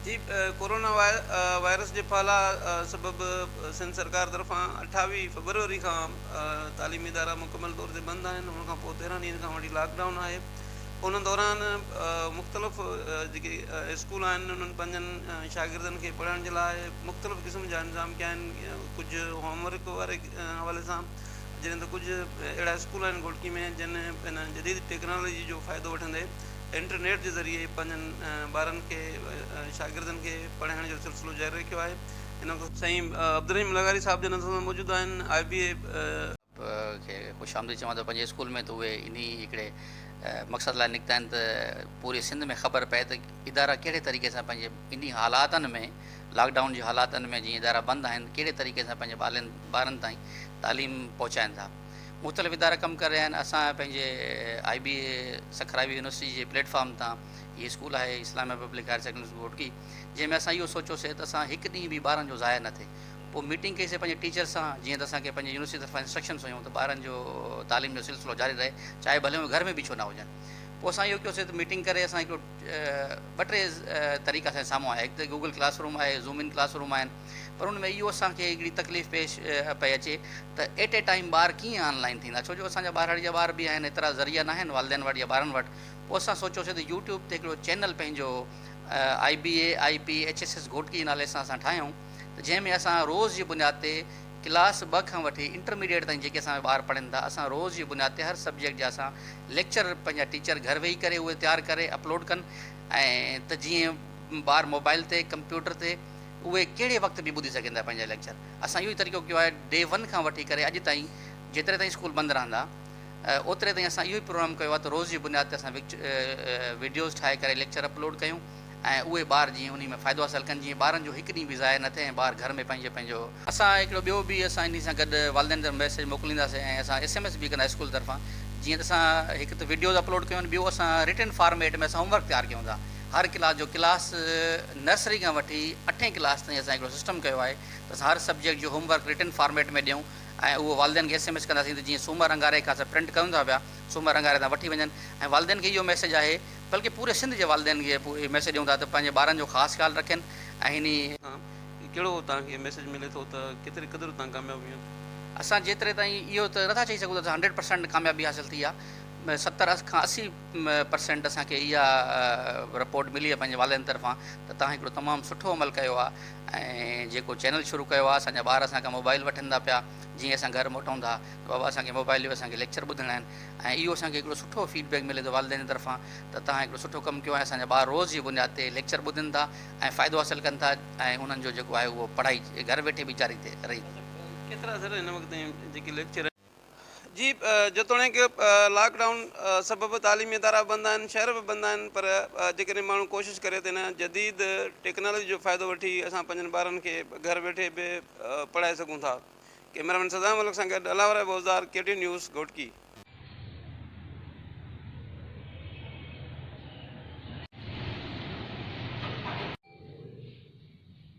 جي corona virus جي ڦهلاء سبب سنڌ سرڪار طرفان اٺاويهه فيبروري کان تعليمي ادارا مڪمل طور تي بند آهن ان کان پوء تيرهن ڏينهن کان وٺي لاڪ ڊائون آهي ان دوران مختلف جيڪي اسڪول آهن انهن پنهنجن شاگردن کي پڙهائڻ جي لاء مختلف قسم جا انتظام ڪيا آهن ڪجهه هوم ورڪ واري حوالي سان جڏهن ته ڪجهه اهڙا اسڪول آهن گهوٽڪي ۾ جن هن جديد ٽيڪنالاجي جو فائدو وٺندي انٽرنيٽ جي ذريعي پنهنجن ٻارن کي ۽ شاگردن کي پڙهائڻ جو سلسلو جاري رکيو آهي ان کان سائين عبدالرحيم لغاري صاحب جن اسان سان موجود آهن آء بي اي. کي خوش آمديد چوان ٿو پنهنجي اسڪول ۾ ته اهي انهي هڪڙي مقصد لاء نڪتا آهن ته پوري سنڌ ۾ خبر پئي ته ادارا ڪهڙي طريقي سان پنهنجي انهي حالاتن ۾ لاڪ ڊائون جي حالاتن ۾ جيئن ادارا بند آهن ڪهڙي طريقي سان پنهنجي ٻارن تائين تعليم پهچائين ٿا. مختلف ادارا ڪم ڪري رهيا آهن اسان پنهنجي آئي بي اي سکرائي يونيورسٽي جي پليٽ فارم تان هي اسڪول آهي Islamia public higher secondary school روڊڪي جنهن ۾ اسان اهو سوچيوسي ته اسان هڪ ڏينهن به ٻارن جو ضايع نه ٿئي پوء ميٽنگ ڪئيسي پنهنجي ٽيچرس سان جيئن ته اسان کي پنهنجي يونيورسٽي طرفان انسٽرڪشنس هيون ته ٻارن جو تعليم جو سلسلو جاري رهي چاهي ڀلي هو گهر ۾ به ڇو نه هجن پوء اسان اهو ڪيوسي ته ميٽنگ ڪري اسان هڪڙو ٻه ٽي طريقا اسان جي سامهون آيا هڪ ته گوگل ڪلاس روم آهي زوم ان ڪلاس روم آهن پر ان ۾ اهو اسان کي هڪڙي تڪليف پيش پئي اچي ته At a Time ٻار ڪيئن آن لائين ٿيندا ڇو جو اسان جا ٻاهراڙي جا ٻار به آهن ايترا ذريعا ناهن والدين وٽ يا ٻارن وٽ پوء اسان سوچيوسين ته يوٽيوب تي هڪڙو چينل پنهنجو IBAIPHSS گهوٽڪي نالي سان اسان ٺاهيون ته جنهن ۾ اسان روز جي بنياد تي ڪلاس ٻه کان وٺي انٽرميڊيئيٽ تائين جيڪي اسان جا ٻار پڙهن ٿا اسان روز جي بنياد تي هر سبجيڪٽ جا اسان ليڪچر پنهنجا ٽيچر گهر ويهي ڪري اهي تيار ڪري اپلوڊ ڪن ۽ ته جيئن ٻار موبائل تي ڪمپيوٽر تي اهي ڪهڙي وقت به ٻڌي سگهن ٿا پنهنجا ليڪچر. اسان اهو ئي طريقو ڪيو آهي ڊي ون کان وٺي ڪري اڄ تائين جيتري تائين اسڪول بند رهندا اوتري تائين اسان اهو ئي پروگرام ڪيو آهي ته روز جي بنياد تي اسان ويڊيوز ٺاهي ڪري ليڪچر اپلوڊ ڪيون ۽ اهي ٻار جيئن انهي ۾ فائدو حاصل ڪن جيئن ٻارن جو هڪ ڏينهن به ضايع نه ٿئي ۽ ٻار گهر ۾ پنهنجو پنهنجو اسان هڪڙو ٻيو به اسان انهي سان گڏ والدين طرف ميسيج موڪلينداسين ۽ اسان ايس ايم ايس به ڪندا اسڪول طرفان جيئن ته اسان هڪ ته ويڊيوز اپلوڊ ڪيون ٻيو اسان رٽن فارميٽ ۾ اسان هوم ورڪ تيار ڪيون ٿا. هر ڪلاس جو ڪلاس نرسري کان وٺي اٺين ڪلاس تائين اسان هڪڙو سسٽم ڪيو آهي ته اسان هر سبجيڪٽ جو هوم ورڪ رٽن فارميٽ ۾ ڏيون ۽ اهو والدين کي ايس ايم ايس ڪنداسين ته جيئن سومر اڱاري کان اسان پرنٽ ڪريون ٿا پيا سومر اڱاري تان وٺي وڃن ۽ والدين کي اهو ميسيج آهي بلڪه پوري سنڌ جي والدين کي اهو ميسيج ڏيون ٿا ته پنهنجي ٻارن جو خاص خيال رکين ۽ هن ڪهڙو توهان کي ميسيج ملي ٿو ته ڪيتري قدر توهان ڪامياب ويون؟ اسان جيتري تائين اهو ته نٿا چئي سگهون ته اسان هنڊريڊ پرسنٽ ڪاميابي حاصل ٿي آهي ستر کان اسي پرسينٽ اسان کي اها رپورٽ ملي آهي پنهنجي والدين طرفان ته توهان هڪڙو تمام سٺو عمل ڪيو آهي ۽ جيڪو چينل شروع ڪيو آهي اسان جا ٻار اسان کان موبائل وٺن ٿا پيا جيئن اسان گهر موٽون ٿا ته بابا اسان کي موبائل ڏيو اسان کي ليڪچر ٻڌڻا آهن ۽ اهو اسان کي هڪڙو سٺو فيڊ بيڪ ملي ٿو والدين جي طرفان ته توهان هڪڙو سٺو ڪم ڪيو آهي اسان جا ٻار روز جي بنياد تي ليڪچر ٻڌن ٿا ۽ فائدو حاصل ڪن ٿا ۽ انهن جو جيڪو آهي اهو پڙهائي گهر ويٺي به جاري رهي ٿي. ڪيترا سر هن وقت جيڪي ليڪچر. جي جيتوڻيڪ لاڪ ڊائون سبب تعليمي ادارا به بند آهن شهر به بند آهن پر جيڪڏهن ماڻهو ڪوشش ڪري ته هن جديد ٽيڪنالوجي جو فائدو وٺي اسان پنهنجن ٻارن کي گهر ويٺي به پڙهائي سگهون ٿا. ڪئميرامين سزا ملڪ سان گڏ الاوره Buzdar K T news Ghotki.